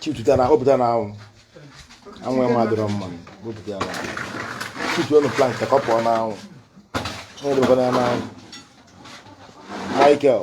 chipụta na kpọpụta na anwụ anwụ ya adịrọ mma kpọpụta ya na anwụ chipụta ọnụ plank ka ọ pụọ na anwụ onye debekwana ya na anwụ Michael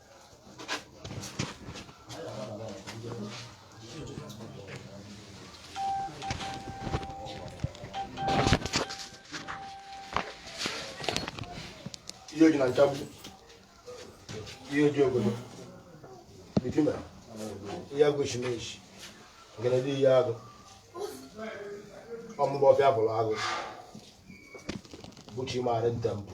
Iyi Oji na nchagbu Iyi Oji ogolo bitima Iyi agụ shimeshi Ngene Iyi agụ ọ mụ bụ Ọfịa bụrụ agụ bụchi maara ntempụ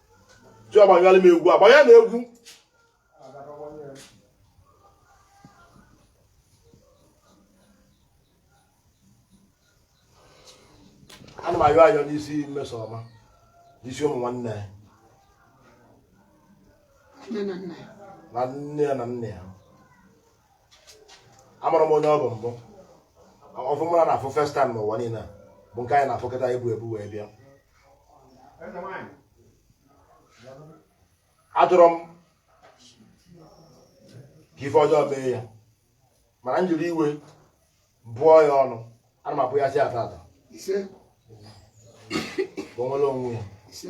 ji ọgbanyalị m egwu agbanya na egwu ana m ayọ ayọ n'isi Mmesoma n'isi ụmụ nwanne ya na nne ya na nna ya amarọ m onye ọ bụ mbụ ọfụ mụ na ya na afụ first time n'ụwa niile bụ nke anyị na-afụ kịta e bu ebu wee bịa achọrọ m ka ife ọjọọ mee ya mana m jiri iwe bụọ ya ọnụ ana m abụ ya sị ya taata ise ka o nwere onwe ya ise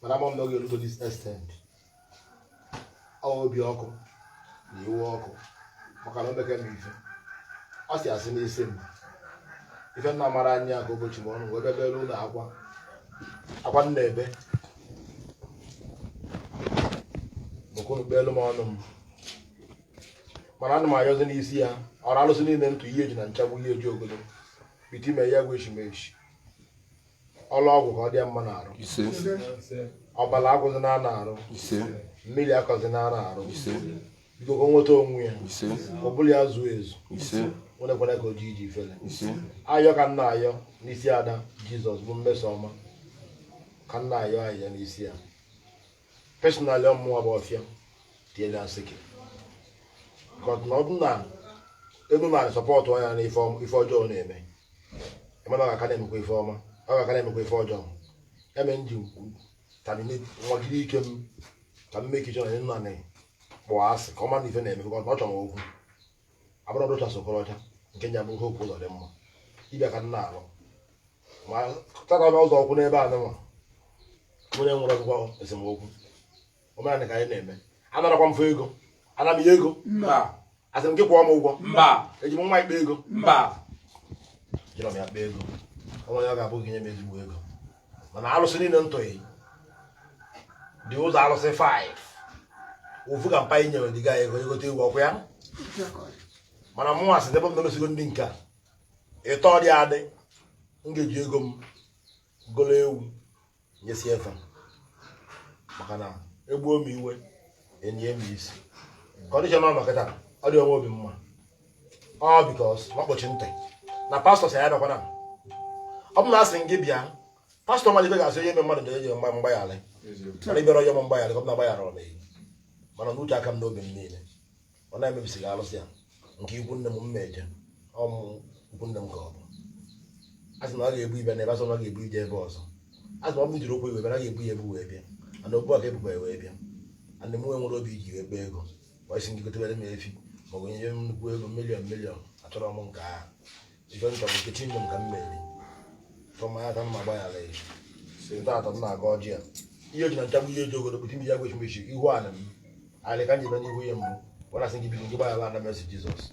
mana ama m na ọ ga-ego to this extent ọ bụ obi ọkụ na iwe ọkụ maka na o meke m ife ọ sị asị n'isi m ife m na-amarọ anya ka o bochie m ọnụ wee bebelu unu akwa akwa m na-ebe bụ ka unu kpeelu m ọnụ m mana ana m ayọzi n'isi ya ọra alụsị niile ntụ Iyi Oji na nchagbu Iyi Oji ogolo bitima Iyi agụ shimeshi ọ laa ọgwụ ka ọ dị ya mma na arụ ọbala agwụzina ya na arụ mmiri akọzina ya na arụ biko ka o nweta onwe ya ụbụlụ ya zuo ezu nwerekwara ka o ji eji ifele ayọ ka m na-ayọ n'isi ada Jizọs bụ Mmesoma ka m na-ayọ ayọ n'isi ya personally ọ mụwa bụ Ọfịa tinyere ya nsịkị because na ọ bụ na unu na support ya na ife ọm- ife ọjọọ ọ na-eme e mebe ọ ga-aka na-emekwa ife ọma ọ ga-aka na-emekwa ife ọjọọ ya mere m ji na-anwagide ike m ka m mee kichọn nna na kpọọ asị ka ọ ma na ife ọ na-eme because na ọ chọrọ m okwu abụrọ rochas okorocha nke nya bụ hope uzodinma dibịa ka m na-alụ ma tata n'ụzọ okwu n'ebe a nwa onye nwere ọgwụgwọ esemokwu omenala ka anyị na-eme anarakwa mfe ego ana m ya ego mba asị m gị kwụọ m ụgwọ mba eji m nwa ikpe ego mba jirọ m ya kpee ego onwe ya ga-abụ gị nye m ezigbo ego mana alụsị niile ntụghị dị ụzọ alụsị 5 ofu ka mpa inyere dị ga-egote ewu ọkwa ya mana mụwa sị ebe m na-emesigo ndị nke a ịtọ dị adị m ga-eji ego m golo ewu nyesi efe maka na egbuo m iwe enye m isi condition ọ nọ kịta adịrọ m obi mma ọ because ọ kpọchi ntị na pastọ sị ya bịakwana ọ bụ na asị gị bịa pastọ mmadụ ibe ga-asị onye ebe mmadụ na-enye mgba mgbaghara mana ibere onye m mgbaghara ọ bụ na gbaghara ọ na-eyi mana n'uche aka m n'obi m niile ọ na-emebisi gị alụsị ya nke ikwu nne m mma eje ọmụ ikwu nne m ka ọ bụ asị na ọ ga-ebu ibe na ebe asị na ọ ga-ebu ije ebe ọzọ asị na ọ bụ jiri okwu iwe bịa na ga-ebu ya ebu wee bịa ana okwu a ga-ebuba wee bịa ana mụ nwere obi iji wee kpee ego wa sị ndị gotewere m efi maọbụ nye m nnukwu ego million million achọrọ m nke ahụ ife m chọrọ nkechi nne m ka m meri tụmanya ka m ma gbaghara ya si taa atọ m na-aga ọjị ya ihe ji na nchagbu ihe ji ogoro bụti m ya gwechi mechi ihu ala m alị ka m ji banye ihu ya mbụ wara sị gị bido gị gbaghara ana mesi jesus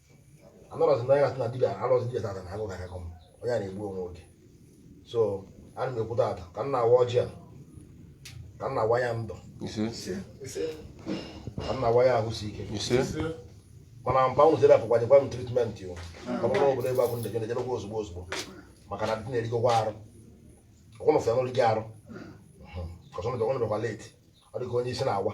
anọrọzi na ya na dibia anọrọzi dibia tata na agụ gara akọ m onye a na-egbu onwe oge so ana m ekwu tata ka m na-awa ọjị a ka m na-awa ya ndụ ka m na-awa ya ahụ isi ike mana mpa unu zere apụkwa nyekwa m treatment o ọ bụrụ na obodo ebe akwụ ndejere jedekwa ozugbo ozugbo maka na dị na-erigokwa arụ ọkwụnụ fụya n'olu gị arụ kọsọnụ bịakwa late ọ dị ka onye isi na-awa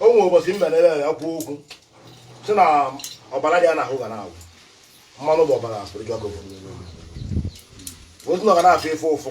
o nwere ụbọchị mbe na-ele ya kwuo okwu sị na ọbara dị ya n'ahụ ga na-awụ mmanụ bụ ọbara spiritual gọvanọ otu na ọ ga na-afụ ife ụfụ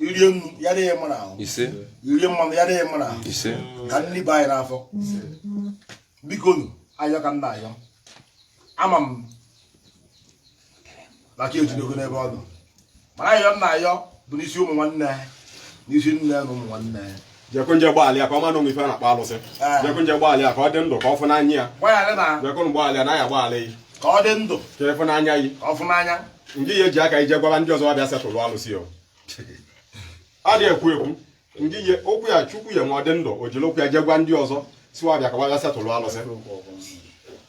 i rie nnu ya dị gị mma n'ahụ i rie mmanụ ya dị gị mma n'ahụ ka nri baa anyị n'afọ bikonu ayọ ka m na-ayọ ama m na aka ejidogo n'ebe ọ nọ mana ayọ m na-ayọ bụ n'isi ụmụ nwanne n'isi nne na ụmụ nwanne jekunje gbalịa ka ọ ma na e nwe ife a na-akpọ alụsị ah. jekunje gbalịa ka ọ dị ndụ ka ọ fụ n'anya ya jekun gbalịa na ya gbalị yi ka ọ dị ndụ ka ịfụ n'anya yi ka ọ fụ n'anya ndị ya eji aka ije gwara ndị ọzọ bịa settle alụsị o ọ dị ekwu ekwu ndị ihe okwu ya chukwu ya ma ọ dị ndụ o jiri okwu ya jee gwa ndị ọzọ sị wa bịa ka wa bịa settle alụsị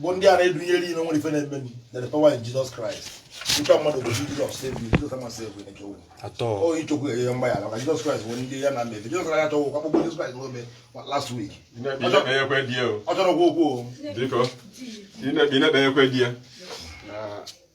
bụ ndị a na-edunyere ime nwere ife na-eme na the power in Jesus Christ nke mmadụ bụ Jizọs save you Jizọs ama save you na kewu oyi chukwu enye mgbaghara maka Jizọs Kraịst bụ ndị ya na mmebi Jizọs Kraịst achọghị ụkwa kpọkpọ Jizọs Kraịst n'ome last week ọ chọrọ okwu okwu o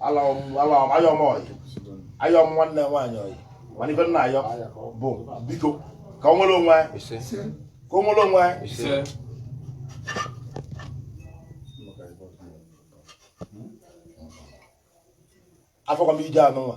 ayọ m ọyị ayọ m nwanne nwaanyị ọyị mana ife m na-ayọ bụ biko ka o nwere onwe ka o nwere onwe afọkwa m ije anụnwa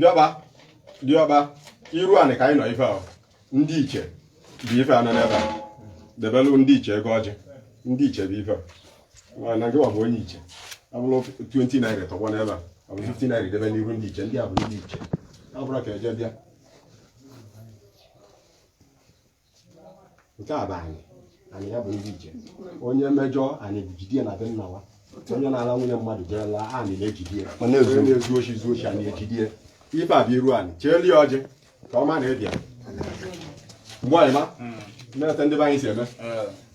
diọkpa diọkpa iru anị ka anyị nọ ife ahụ ndị iche bụ ife a nọ n'ebe a debelu ndị iche ego ọjị ndị iche bụ ife a na gị bụ onye iche ọ bụrụ 20 naira tọgbọ n'ebe a ọ bụ 50 naira debe n'iru ndị iche ndị a bụ ndị iche ọ bụrụ ka eje bịa nke a bụ anị anị ya bụ ndị iche onye mejọ anị jide ya na be nna wa onye na-ala nwunye mmadụ jee laa anị na-ejide ya Ọ na-ezu. onye na-ezu oshi zuo oshi anị ejide ya ife a bụ iru anị cheelu ya ọjị ka ọ ma na ị bịa mgbe anyị ma na etu ndị be anyị si eme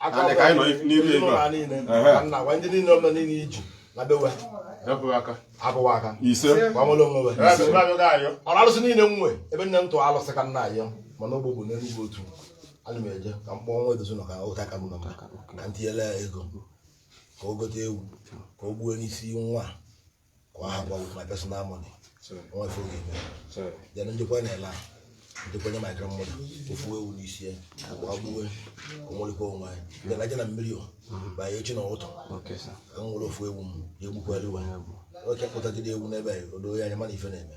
Anị ka anyị nọ n'iru ego a. Ehe. nna gwa ndị niile ọma niile iji na bewe Dapụ aka. abụwa aka ise gwa nwere onwe we Ebe ebe abịaghị ayọ. ọrụ alụsị niile nwe ebe nne m tụọ alụsị ka m na-ayọ mana ogbo bụ n'Enugwu Otu ana m eje ka m kpọọ nwa edozi nọ ka ụta ka m nọ ka m tinyere ya ego ka o gote ewu ka o gbuo n'isi nwa a. ka ọ hapụ ọ bụ my personal money nwa ife ọ ga-eme then njikwa na-ele ahụ njikwa nye my grandmother ofu ewu n'isi ya agwa agbuwe o nwelikwa onwe ya then a jee na mmiri o banye echi na ụtọ Okay, sir. ka m nwere ofu ewu m ya egbukwara iwe nwoke kpụtagide ewu n'ebe a o doo ya anya mana ife na-eme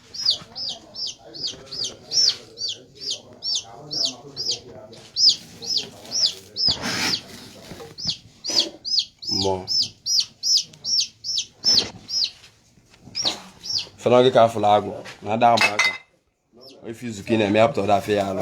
mmụọ fa na gị ka afụla agụ na ada ama aka ife izuka ị na-eme ya pụta ọ da afịa alụ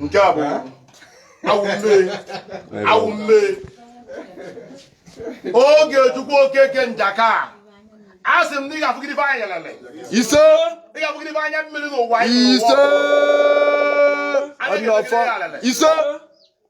nke a bụ awụ mmee awụ mmee Ogechukwu Okeke Njaka a sị m na ị ga-afụgide ife anya lele ise ị ga-afụgide ife anya mmiri n'ụwa ise ise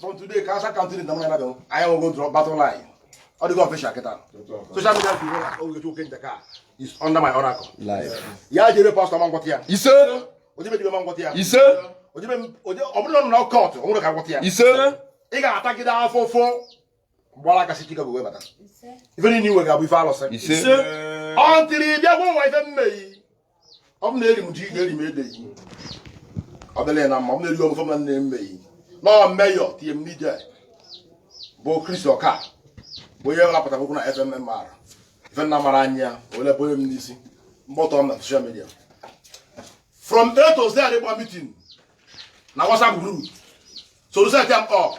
from today ka asa country na mwana do aya wo go drop battle line all the official keta social media people na o go ken daka is under my oracle live ya jere pastor man gwatia ise o jebe jebe man gwatia ise o jebe o jebe o bụrụ na court o nwere ka gwatia ise ị ga-atagide afọ fọ gbara aka si chike bụ wee bata ife niile i nwe ga-abụ ife alụsị ise until ị bịa gwa nwa ife m me yi ọ bụ na eri m ji gị eri m ede yi ọ dịla ya na mma ọ bụ na eri ọgụfọ m na nne mme yi na ọ mmeyọ tinye m n'ije bụ Chris Oka bụ onye rapụtara okwu na FMM mara ife nna mara anyị ya ole bụ onye m n'isi mgbọtọ m na social media from A to Z adịgba meeting na WhatsApp group so reset am up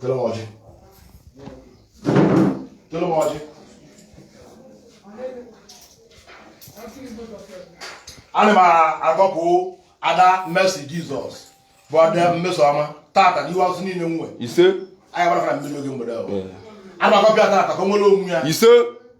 Tụrụ m ọjị. Tụrụ m ọjị. Ana m agọpụ ada Mercy Jesus bụ ada Mmesoma tata n'ihu alụsị niile m nwe. Ise. Anyị gbara fara mmiri oge mgbede ahụ. Ana m agọpụ ya tata ka o nwere onwe ya. Ise.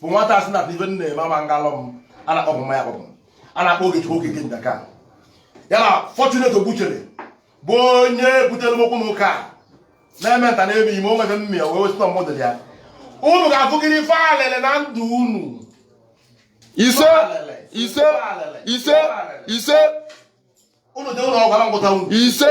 bụ nwata asị na ife na-eme ama ngalọ m a na-akpọ bụ mmanya kpọpụ a na-akpọ Ogechukwu Okeke ndaka ya na Fortunate Ogbuchere bụ onye butere m okwu na ụka a na-eme nta na-eme imo o nwere mmịa wee wesịta mmadụ ya unu ga-afụgịrị ife alele na ndụ unu ise ise ise ise unu dị ụlọ ọgwara ngwụta unu ise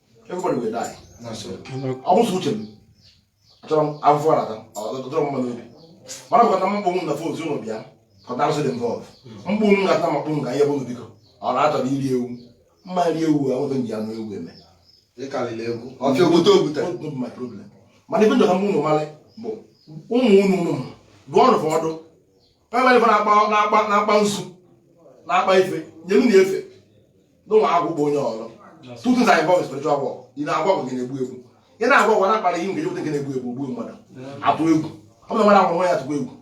everybody will die ọ bụrọ uche m achọrọ m afụfụ ọ na-ata ọ dịrọ m mma n'obi mana bụkọta m mkpụrụ na fon ụlọ bịa kọta arụsị dị involve mkpụrụ m ga-ata makpụ m ga ihe bụrụ biko ọ na-achọrọ iri ewu mma iri ewu a nweta m ji anụ ewu eme ọfịa obodo obuta mana ife m chọ ka unu malị bụ ụmụ unu ụlọ m dụọ ọrụ fọdụ na-akpa nzu na-akpa ife nyere na efe n'ụlọ akwụkwọ bụ onye ọrụ two things are involved in spiritual work ị na-agwọ ọgwụ nke na-egbu egbu ị na-agwọ ọgwụ na-akpara ihe nke jeweta nke na-egbu egbu gbuo mmadụ atụ egwu ọ bụla nwere agwụrụ ya atụkwa egwu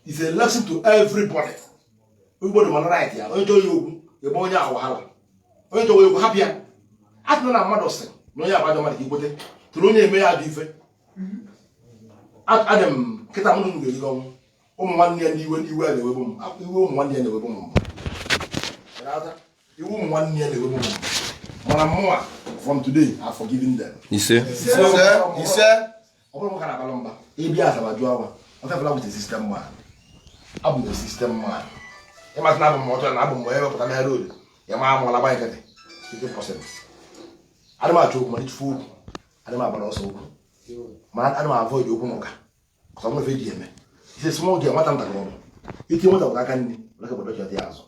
is a lesson to everybody everybody mara right ya onye chọrọ ya okwu egbe onye ahụ wahala onye chọrọ ya okwu hapụ ya a sị na mmadụ sị na onye abajọ mmadụ ka ikwete tụrụ onye eme ya ajọ ife adị m nkịta mmadụ m ga-eri ọnwụ ụmụ nwanne ya ndị iwe iwe a na-ewebu m iwe ụmụ nwanne ya na-ewebu m mbụ iwe ụmụ nwanne ya na-ewebu m mbụ mana mụnwa from today I forgiven them ise ise ọ bụrụ m ka na-abalụ mba ị bịa Asaba jụọ awa ọfefela with a system man abụ m system man ịmasị na abụ m ọtọ na abụ m onye wepụta na road ya ma amụọla gba nkịtị 50% adị m achọ okwu ma ị tụfu okwu adị m agbara ọsọ okwu ma adị m avoid okwu na ụka ọsọ nwefe eji eme ise small girl nwata ntakịrị ọrụ iti nwata bụ aka nri laka bọdọ jọdị azụ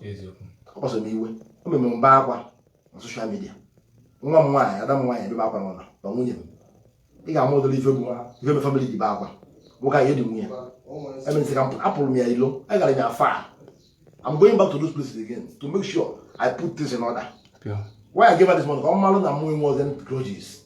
ọ kpasara m iwe o mere m bee akwa na social media nwa m nwaanyị ada m nwaanyị ebebe akwa n'ụlọ na nwunye m ị ga-ama ụdịrị ife bụ ife me family ji be akwa nwoke anyị dị nwunye emesị ka apụrụ m ya ilo agara m ya far I'm going back to those places again to make sure I put things in order. Yeah. Why I gave her this money? Ka ọ malụ na mụ enwerọzi grudges.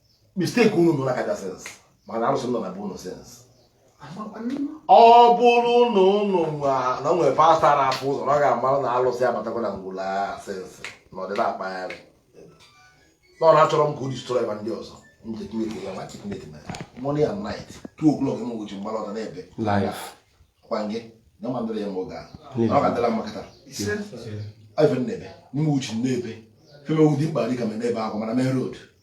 mistake unu nọ na kaja since mana arụsị nọ na be unu since ọ bụrụ na unu na o nwere pastọ na-afụ ụzọ na ọ ga-amara na alụsị abatakwa na ngwulu a since na ọdịda akpagharị na ọ na-achọrọ m ka o destroy ma ndị ọzọ m ji tinye ya ma tinye dị na morning and night two o'clock m gochi mgbara ọta na-ebe life kwa nge na ma ndịrị ya mgbe oge ahụ na ọ ga-adịla mma kịta ise ife m na-ebe n'ime uche m na-ebe feme wudi mkpa dịka m na-ebe akwa mana main road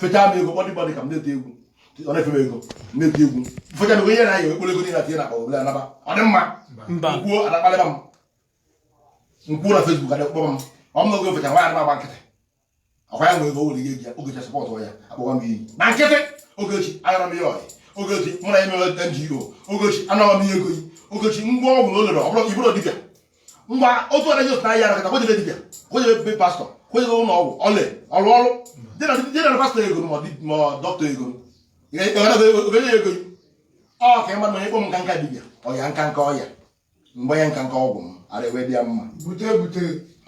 fechaa m ego kpọdị kpọdị ka m na-eti egwu ọ na-efe m ego na-eti egwu fechaa m ego ihe na-anya ekpere ego na-ati na akpa obere anaba ọ dị mma m kwuo a na-akparịba m m kwuo na Facebook adị kpọba m ọ m na oge fecha nwa anaba agba nkịtị ọkwa ya nwere ego were ihe ji ya ogechi support ya akpọwa m iyi na nkịtị ogechi agara m ihe ọyị ogechi mụ na ya mere NGO ogechi anaba m ihe ego yi ogechi ngwa ọgwụ na o lere ọ bụrụ ị bụrụ dibịa ngwa otu ọdaji otu na-ahịa arakọta ka o jebe dibịa ka o jebe be pastọ ka o jebe ụlọ ọgwụ ọle ọrụ ọrụ dị na pastọ ego ma dọkịta ego ọ ga-enye ego ọ ka ịma na onye kpọ m nka nka dibịa ọya nka nka ọya mgbe ya nka nka ọgwụ m ara ewe dị ya mma bute bute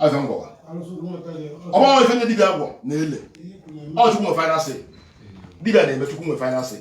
ọzọ ngwawa ọgbanwe ife ndị dibịa gwọ na-ele ọ chukwu nwe final say dibịa na-eme chukwu nwe final say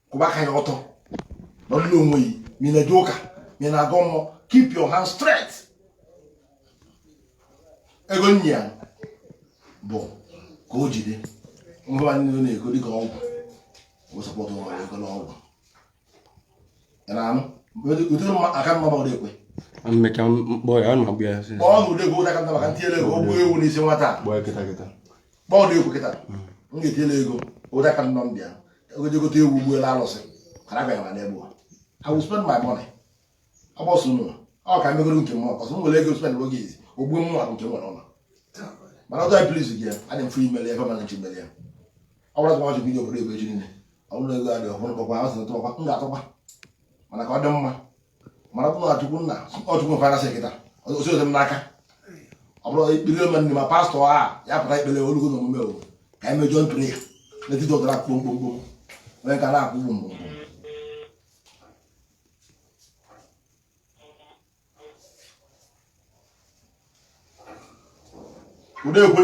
kwụba aka yi ọtọ nọlụ onwe yi ma ị na-eje ụka ma ị na-agọ mmụọ keep your hand straight ego nyi ya bụ ka o jide ngwa niile na-ego dịka ọgwụ wee support ụlọ ego n'ọgwụ ị na-anụ ụdị mma aka mma gbọrọ ekwe mmecha mkpọ ya ọ na-agbụ ya kpọọ na ụdị ego ụdaka nta maka m tinyere ego o gbuo ewu n'isi nwata a. gbọ ya kịta kịta kpọọ dị egwu kịta m ga-etinyela ego ụda ka nnọ m bịa ọ ga-eje gote ewu gbuolu alụsị mana abịaghị na n'egbu I will spend my money agbọsọ unu ọ ka megoro nke m ọkọsọ m nwere ego spend oge izi ogbuo m nwa nke nwere ụlọ mana ọjọọ please gị ya adị mfe imeli ebe mana nchi meli ya ọ bụrụ azụmahịa bido obodo ebe echi niile ọ bụrụ ego adị ọhụrụ kpọkwa azụ tụọkwa m ga-atụkwa mana ka ọ dị mma mana ọ bụ na chukwu nna ọ chukwu mfana sị nkịta osi ozi m n'aka ọ bụrụ ekpere ome ndị ma pastọ a ya pụta ekpere olugo n'omume owo ka anyị mee joint prayer n'etiti ụtara kpom kpom kpom onye ka na-akụ gbom gbom ụdị ekwe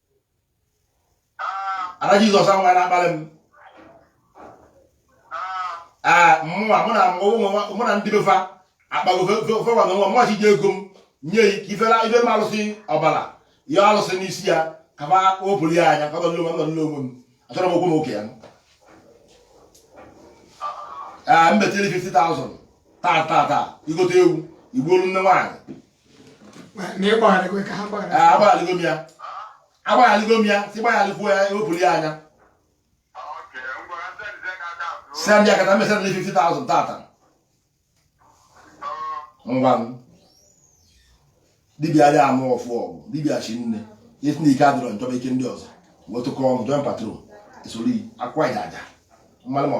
ada jizọs ahụ nwa na-akpali m ee mụnwa mụ na mụ na ndị befa akpago fewa na nwa mụnwa ji ego m nye ya ka ifela ife m alụsị ọbara ya alụsị n'isi ya ka ma wepụrụ ya anya ka ọ nọ nọ n'onwe m achọrọ m okwu m oke ya ee m betiri 50,000 taa taa taa i gote ewu i gbuolu nne nwaanyị agbaghaligo m ya agbaghaligo m ya si gbaghalikwuo ya ewepụrụ ya anya send ya kata mesend ni 50000 taa taa ngwa m dibịa dị anụ ọfụ ọgwụ dibịa chi nne e si na ike adịrọ nchọba ike ndị ọzọ wetụkọ ọnụ join patrol esoro akwa ịdaja mmanụ ma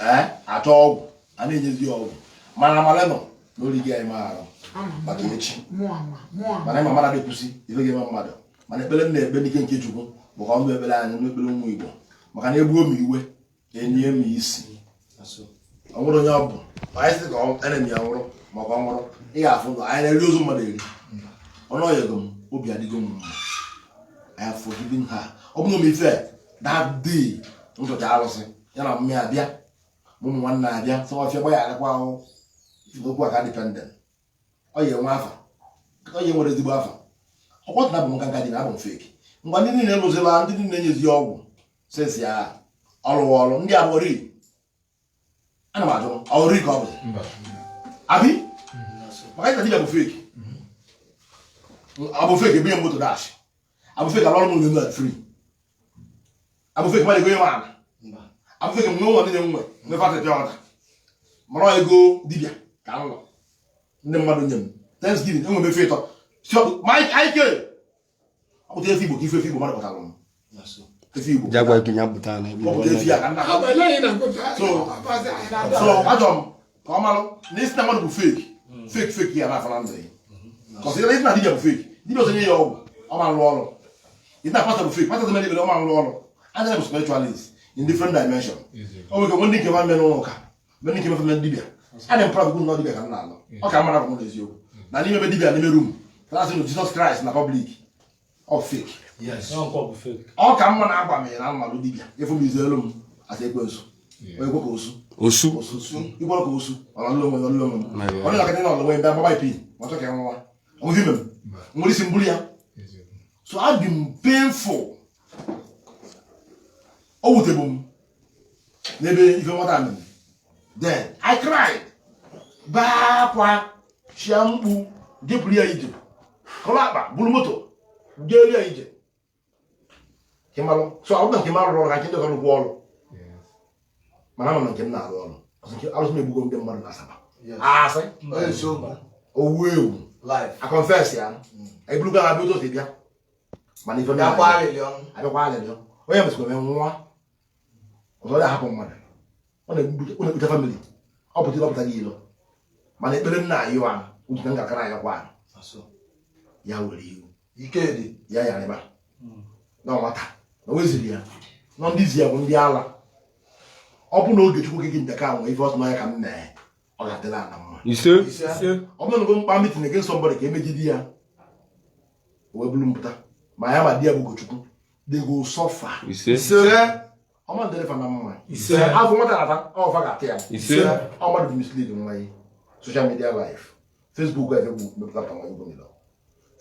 ee achọ ọgwụ a na-enyezi ya ọgwụ mana amala nọ n'oligo anyị maara maka echi mana ịma mara na-ekwusi ife ga-eme mmadụ mana ekpere m na-ekpe n'ike nke chukwu bụ ka ọ nụ ekpere anyị na ekpere ụmụ igbo maka na egbuo m iwe enye m isi o nwerọ onye ọ bụ anyị sị ka enemy ya nwụrụ maka ọ nwụrụ ị ga-afụ ndụ anyị na-eri ozu mmadụ eri ọnụ ọ yọgo m obi adịgo m mma I have forgiven her ọ bụrụ m ife that day m chọcha arụsị ya na mmiri abịa ma ụmụ nwanne abịa sọ ọfịa gba ya agakwa ahụ okwu aka dependent ọ ya enwe afa ọ ya enwere ezigbo afa ọkwọtụ na abụ m nkanka dị na abụ m fake ngwa ndị niile lụzila ndị niile nyezi ọgwụ sesi ya ọ lụwa ọlụ ndị abụri ana m ajụ ọ rụrụ ka ọ bụ abi maka ịta dibịa bụ fake abụ fake ebunye m moto dash abụ fake alụọrụ m ụnọ free abụ fake mmadụ egonye m ala abụ fake m nwe ụlọ niile nwe nwe fatị pịa ọda mara ego dibịa ka m nọ ndị mmadụ nye m thanksgiving enwe mefe ịtọ ike ọ pụta efe igbo ka ife efe igbo mmadụ pụtara m efe igbo ọ pụta efe ya ka nna ha so ajọ m ka ọ malụ na ị sị na mmadụ bụ fake hmm. fake fake ya na-afọ na ndụ ya kọsị ya na ị sị na dibia bụ fake dibia ọzọ nye ya ọgwụ ọ ma rụ ọrụ ị sị na pastor bụ fake pastor ọzọ mee ekpere ọ ma rụ ọrụ anyị bụ spiritualist in different dimension o nwere ike nwe ndị nke ma mere ụlọ ụka nwee ndị nke mefe mere dibia adị m proud bụ na dibia ka m na-alụ ọ ka mara bụ n'eziokwu na n'ime ebe dibia n'ime room na-asị na Jizọs Kraịst na public ọ ka mma na-agba m na mmadụ dibịa efu m izelu m asa ekwensu ekwe ka osu osu ikwere ka osu ọlọlọ onwe ọlọlọ onwe ọ dịla ka ndị na ọlọwe ndị agbaba ipi ma chọọ ka ya nwa ọmụzi ime m nwere isi mburu ya so adị m painful o wutebu m n'ebe ife nwata mere then I cried baa akwa chia mkpu jepụrụ ya ije kọrọ akpa buru moto jeere ya ije so ọ bụrụ na nke m arụrọ ọrụ ka nke ndị ọrụ ọrụ mana ama m nke m na-arụ ọrụ arụsị m egbugo ndị mmadụ na Asaba asị owu ewu a confess ya eburugo ha bịa ụtụtụ bịa mana ife bịa kwa alịlị ọnwụ abịakwa alịlị ọnwụ onye mesịkwa mee nwụọ ọzọ ya hapụ mmadụ ọ na-ekpute family ọ pụta ịlọpụta gị ilo mana ekpere m na-ayọ wa uche na ngakara anyị kwa ya were iwu ike dị ya ya rịba hmm. na nwata na weziri ya nọ ndị zi ya bụ ndị ala ọ bụ na Ogechukwu gị nke ka nwe ife ọsọ n'anya ka m mee ọ ga-adịla ana mma ọ bụrụ na m kpa meeting against somebody ka emegide ya wee bụrụ mpụta ma ya ma di ya bụ Ogechukwu they go suffer ise ọ ma-adịrị fa na mma ise afụfụ nwata na-ata ọ fa ga-ata ya ise ọ mmadụ mislead nwa ya social media life Facebook ga-efe bụ mepụta ka nwa igbo nile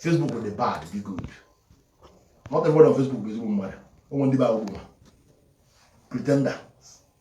Facebook the bad the good not everyone on Facebook bụ ezigbo mmadụ o nwe ndị bụ agwụgwụ pretender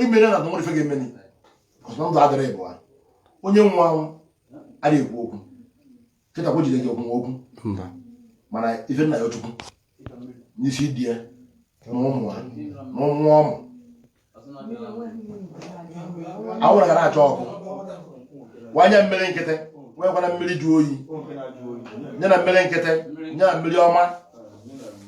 emere na nwere ife ga-emeni ọsọ ndụ adịrị ịbụwa onye nwụrụ anwụ adịghị ekwu okwu kịta kwa jide gị okwu okwu mana ife m na-ayọ Chukwu n'isi di ya na ụmụ ha na ụmụ ụmụ anwụrụ ga na-achọ ọkụ wanye mmiri nkịtị nwekwana mmiri jụ oyi nye na mmiri nkịtị nye na mmiri ọma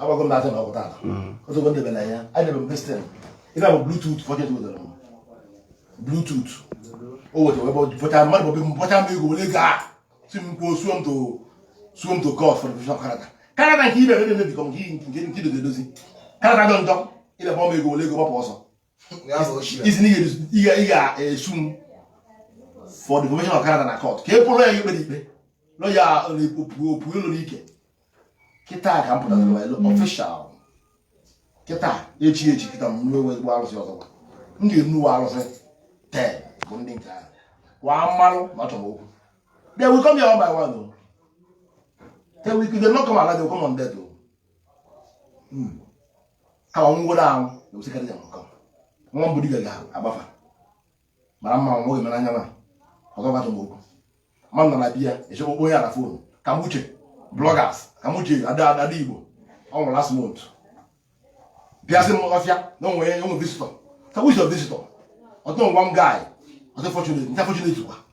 agbago m n'azụ na ọgwụ tata otu ụgwọ ndebe na ya adebe m destin ife bụ bluetooth forget wetara m bluetooth o weta webe bọcha mmadụ bọbe m bọcha m ego were gaa si m kwuo suo m to suo m to court for defamation of character character nke ibe ebe na-emebikọ nke nke nke idozi edozi character njọ njọ ịbịa bọ m ego were ego gbapụ ọsọ ị sị na ị ga-esu m for defamation of character na court ka e bụrụ ya ikpe ikpe nọ ya opue ụlọ n'ike kịta ka m pụtara official kịta echi echi kịta m nwe nwe ezigbo arụsị ọzọ m ga-enwe arụsị ten bụ ndị nke ahụ kwa mmanụ ma chọrọ okwu they will come here one by one o they will they not come alive they will come on dead o hmm. ka ọ nwụrụ anwụ na-ewesekarị ya nkọ nwa mbụ dibịa ga-agba afa mara mma nwoke mere anya nwa ọzọ gbatụ m okwu ma m nọ na bịa echekwa okpo onye ala phone ka m uche bloggers ka m uche ada ada Igbo ọ nwụrụ last month bịasị m ọfịa na o nwe o nwe visitor ka m uche visitor otu nwa guy ọtụ fortunately unfortunately kwa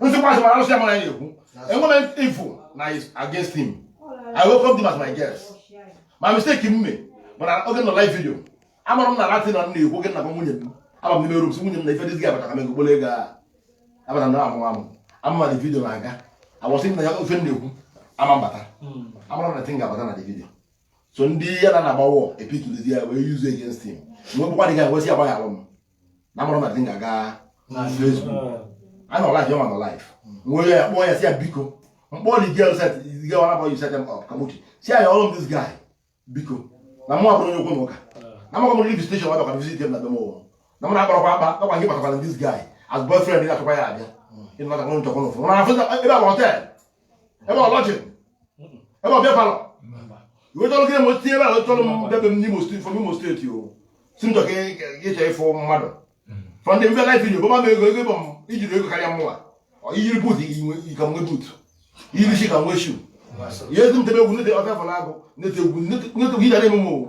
nsikwa asị mara arụsị amara ya ekwu enwere m ifu na is against him i welcome him as my guest my mistake m mere mana oge ọ nọ live video amarọ m na that thing m na-ekwu oge m na-agwa nwunye m aba m n'ime room sị nwunye m na ife this guy bata ka m egogbolo ego a abata na amụ amụ ama ma the video na-aga I was thinking na ya ofe m na-ekwu ama mbata amarọ m na thing ga-abata na the video so ndị ya na na-agba war capitalize ya wee use against him mgbe bụkwa the guy wee sị ya gbaghalụ m na amarọ m na thing ga-aga Facebook a nọ live ọma nọ live m wee ya kpọọ ya sị ya biko m kpọọ the girl set the girl ọ nabọ set m up ka m wee sị ya ọrụ m this guy biko na mụ abụrọ onye okwu na ụka na mụ akpọrọ police station ọ bịakwa visit m na be m ụwa na mụ na-akpọrọkwa akpọ ọ kwa gị kpatakwara this guy as boyfriend ya achọkwa ya abịa ịnọtakwa nchọkwa n'ụfọdụ na afọ ebe a bụ hotel ebe lodging ebe beer parlour iwetọrọ gị mo tinyere ala chọrọ m bịa be m n'Imo state from Imo state ọ sị m chọ ka ịchọ ịfụ mmadụ from the live video bọ m ego ego m ijiri ego karịa mụnwa iyiri boot ka m nwe boot iyiri shoe ka m nwe shoe ihe ezi m tebe egwu na-ete ọ bịa fọrọ agụ na-ete egwu na-ete egwu ị ga na-eme m o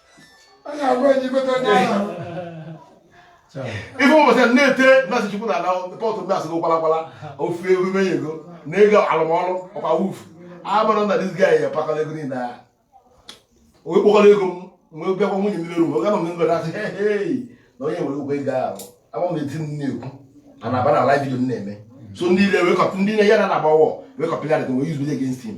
ife ụbọchị na-ete na-asị chukwu na ala kpọtụ na-asị gị kwalakwala ofu emume ya ego na ego alụmọlụ ọkwa wufu abụrụ na this guy pakọla ego niile ya onye kpọkọrọ ego m wee bịakwa nwunye m n'elu oge nọ m n'ebe na-asị hei na onye nwere ụgwọ ego ahụ amarọ m na thing m na-ekwu a na-aba na live video m na-eme so ndị ilo wee cop- ndị na ya na na-agba war wee copy that thing wee use video against him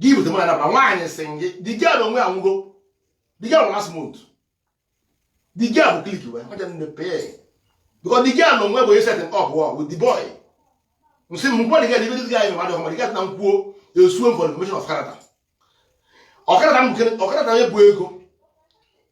gị bute mụ na nabara nwaanyị sị gị the girl na onwe ya nwụgo the girl last month the girl bụ clique wee maja nne pay because the girl na onwe bụ e set m up wọ with the boy nsị m m kpọọ the girl adịbe this guy anyị mmadụ ọma the girl na nkwuo e sue-o for defamation of character ọkara na ọkara na onye bụ ego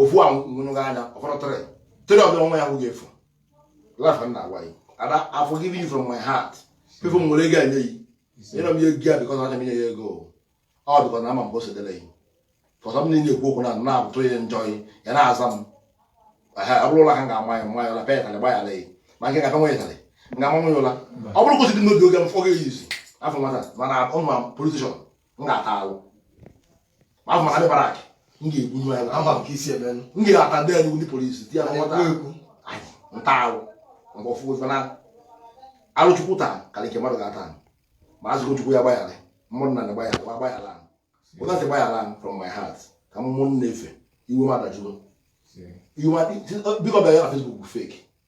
ofu ahụ nwụnụghị anya ọfọdụ tịrị tịrị ọbịa nwa ya hụ ga-efu lafa m na-agwa ya ada I forgive you from my heart people m nwere ego enye yi nyere m ya ego ya because anya m inye ya ego ọ because na ama m bụsị dịrị yi because m na-eme ekwu okwu na na-abụtụ ya njọ yi ya na-aza m ọ bụrụ ụla ka m ga-ama ya m maa ya ụla pịa ụtalị gba ya leyi ma nke m ga-apịa nwa ya ụtalị m ga-ama nwa ya ụla ọ bụrụ kwụsịrị n'obi oge m fọga eyizi afọ nwata mana ụmụ politician m ga-ata alụ ahụ maka ndị barrack m ga-egbunye anyị ama m ka esi eme nụ. m ga-ata ndị anyị ndị police di ya na nwata anyị nta ahụ mgbe ọfụ ofe na alụ chukwu taa karị nke mmadụ ga-ata anyị ma azụgo chukwu ya gbaghara mmadụ na gbaghara gba gbaghara anyị ọ na-asị gbaghara anyị from my heart ka mmụọ nna efe iwe m adajụgo iwe m adị- biko bịa ya na Facebook bụ fake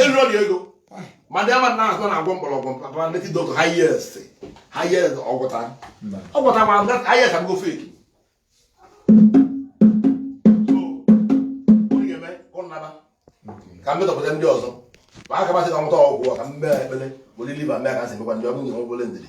elu ọrịa ego ma ndị ama na azụ na-agwọ mgbọrọgwụ papa ndị dọkịta highest ha ihe ọgwụta ọgwụta ma ha ihe asago fake ka mmetọpụta ndị ọzọ ma aka masị ka nwụta ọgwụ ka m mee ekpere were liva mee ka nsị mekwa ndị ọ bụ nwee obere ndidi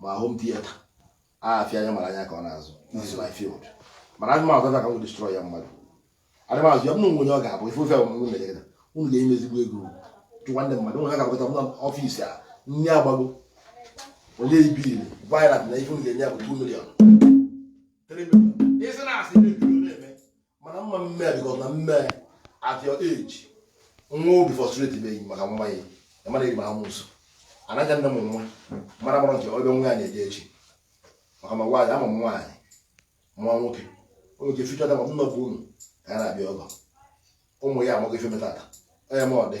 ma home theater afịa anya mara anya ka ọ na-azụ is my field mana adị m azụ ka m destroy ya mmadụ adị m azụ ya m nwe onye ọ ga-abụ ife ofe ọmụmụ mere gị unu ga-eme ezigbo ego chụkwa ndị mmadụ nwere ga-abụkọta m n'ọfịs a nri agbago onye ibiri virat na ife unu ga-enye ya bụ 2 million mana m ma eme because m ma eme at your age nwa obi frustrate beghị maka nwa ya ịmara eri amụsụ anaghị nne m nwa mara mara nke ọ bịa nwa ya na-eje echi maka ma nwaanyị ama m nwaanyị ma nwoke oge ga eficha dama nna bụ unu ka a na-abịa ọgọ ụmụ ya amaghị ife metata onye m ọ dị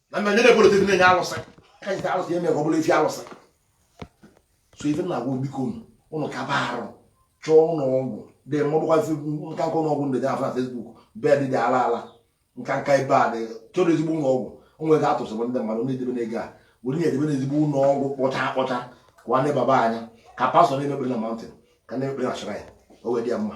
na mma nye na-ebolo tebụl na-enye alụsị ka nke alụsị eme ka ọ bụrụ efi alụsị so ife na-agwa biko unu unu kaba arụ chọọ ụlọ ọgwụ dị mma ọ bụkwa nka nka ụlọ ọgwụ ndị dị afọ na Facebook bed dị ala ala nka nka ebe a dị chọrọ ezigbo ụlọ ọgwụ o nwere atụsịbụ ndị mmadụ na-edebe n'ego a were na-edebe n'ezigbo ụlọ ọgwụ kpọcha akpọcha ka nwanne baba anya ka pastọ na-eme ekpere na mountain ka a na-eme ekpere na shrine o wee dị ya mma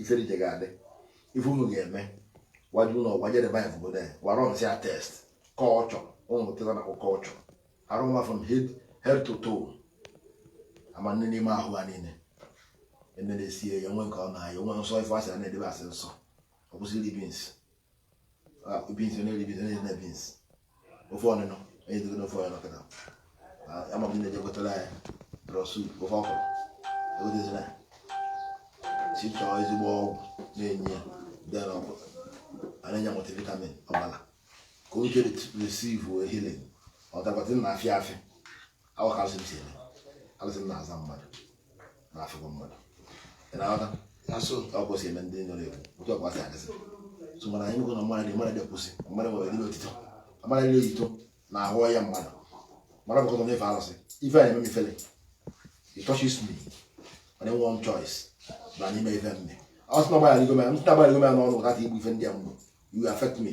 ifere ije ga-adị ife unu ga-eme gwaji ụlọ ọgwụ jedebe anyị obodo anyị gwara nsị a test culture ụmụ pụtara na culture arụ nwa from head head to toe ama nne n'ime ahụ ha niile ene na-esie ya nwe nke ọ na-aya nwe nsọ ife a sị a na-edebe a sị nsọ ọ kwụsị ili beans beans onye eri beans onye na beans ofe ọgbọnọ onye dịgo n'ofe ọgbọnọ kịta ama m ndị na-eje gotara ya draw soup ofe ọkwụrụ egotezina si chọọ ezigbo ọgwụ na-enye ya dara ọgwụ a na-enye multivitamin ọbara ka o jere receive healing ọ dakwata na afịa afịa awa ka alụsị m si eme alụsị m na-azọ mmadụ na afụgo mmadụ ị na-aghọta na so ka ọ kwụsị eme ndị nọ na-ekwu otu ọ kwasị adịsị so mana anyị na mmadụ dị mmadụ dị kwụsị mmadụ nwere dị otito mmadụ dị otito na ahụ ya mmadụ mmadụ bụkọtọ na ife alụsị ife a na-eme m ifele it touches me mana enwe one choice na anyị mee ife m me ọ sị na agbara ligo m ntị agbara ligo m n'ọnụ ụta ka igbu ife ndị a mgbu you affect me